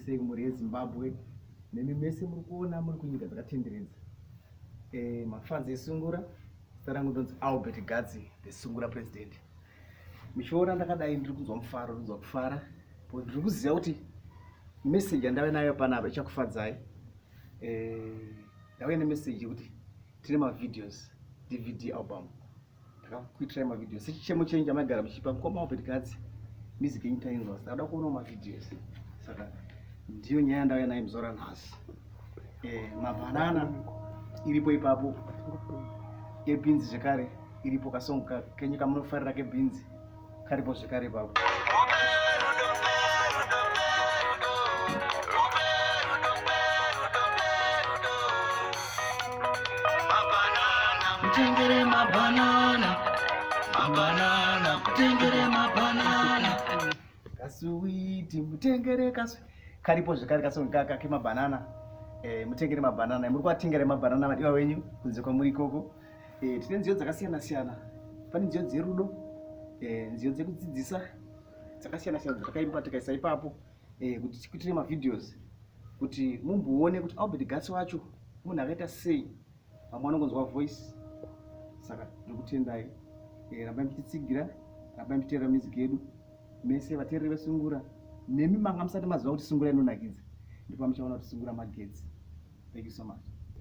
sei mhuri yezimbabwe nemi mese muri kuona muri kunyika dzakatenderedza eh, mafanzi esungura zita rangu ndonzi albert gadzi the sungura president michiona ndakadai ndiri kunzwa mufaro ndiri kunzwa kufara but ndiri kuziva kuti meseji yandave nayo panapa ichakufadzai eh, ndauya nemessage yekuti tine mavideos dvd album takakuitirai mavideos sechichemo chenyu chamaigara muchipa mukoma wapetikadzi music yenyu tainzwa saka da kuonawo mavideos saka ndiyo nyaya yandauya nayo muzora nhasi eh, mabhanana iripo ipapo ebhinzi zvekare iripo kasongo kenyu kamunofarira kebhinzi karipo zvekare ipapo kutengere mabanana mabanana kutengere mabanana kasuwiti mutengere kasu karipo zvekare kasongi kaka kemabanana eh, mutengere mabanana muri kuvatengera mabanana madiwa wenyu kunze kwamuri ikoko Eh, tine nziyo dzakasiyana siyana. Pane nziyo dzerudo, eh, nziyo dzekudzidzisa dzakasiyana siyana dzatakaimba tikaisa ipapo eh, kuti tikuitire mavideos kuti mumboone kuti Albert Gasi wacho munhu akaita sei. Vamwe vanongonzwa voice. Saka ndokutendai. Eh, rambai muchitsigira, rambai muchiteerera music yedu. Mese vateereri vesungura nemi manga musati maziva kuti sungura inonakidza ndipo muchaona kuti sungura magetsi thank you so much